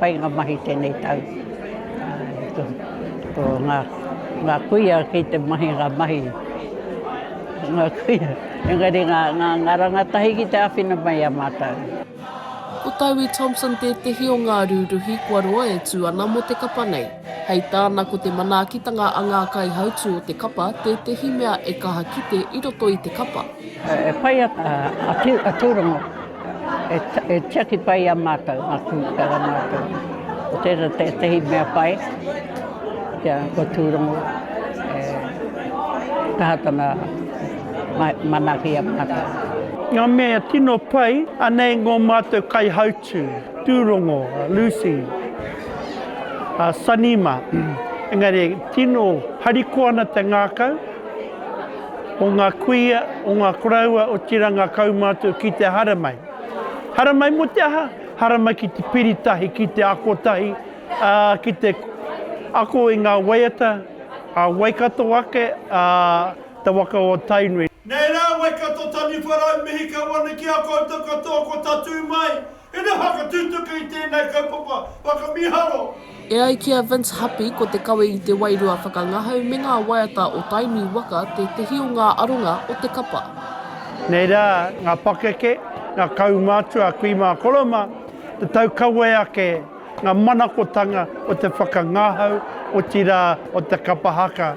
Pai ngā mahi tēnei tau. Ko ngā kuia kei te mahi ngā mahi, ngā kuia. Engari ngā rangatahi ki te āwhina mai i a mātou. Ko Taui Thompson tētehi o ngā rūruhi kua roa e tū ana mō te kapa nei. Hei tāna ko te manaakitanga a ngā kaihautū o te kapa tētehi mea e kaha kite i roto i te kapa. E pai ana a Tūrongo, e tiaki pai i a mātou ngā kumekuaha mātou. Ko tērā tētehi mea pai, kia ko Tūrongo e kaha tana manaaki i a mātou. Ngā mea tino pai, anei ngō mātou kaihautū, Tūrongo, Lucy, Sanima, engari tino harikoa ana te ngākau, o ngā kuia, o ngā koroua, otirā ngā kaumātua ki te haramai. Haramai mō te aha? Haramai ki te piri tahi, ki te ako tahi, ā, ki te ako i ngā waiata a Waikato ake, ā, te waka o Tainui. Nei rā, Waikato, Taniwha, Rau, Mihika, Wanakia, koutou katoa ko tatū mai. He nui aha ka tutuki i tēnei kaupapa whakamiharo? E ai ki a Vince Hapi, ko te kawe i te wairua whakangahau me ngā waiata o Tainui waka tētehi o ngā aronga o te kapa. Nei rā ngā pakeke, ngā kaumātua kui mā Koroma, te tau kawe ake, ngā manakotanga o te whakangahau, otirā o te kapa haka,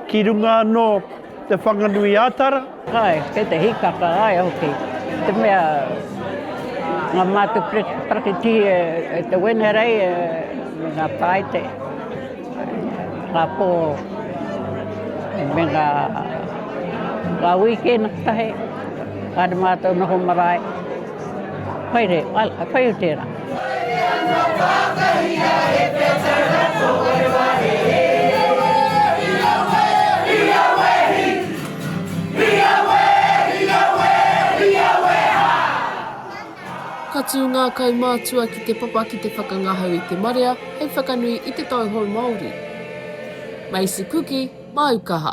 ki runga anō Te Whanganui-a-Tara. Ae, kei te hikaka, ae hoki. Te mea, nga mātou parakitihi e te Wenerei, me nga Paite, nga Po, me nga Wīkēna kotahi, kāre mātou noho marae. Haere, whai o tērā. Ka tū ngā kaumātua ki te papa ki te whakangahau i te marea hei whakanui i te tauhou Māori. Macy Kuki, Māu Kaha.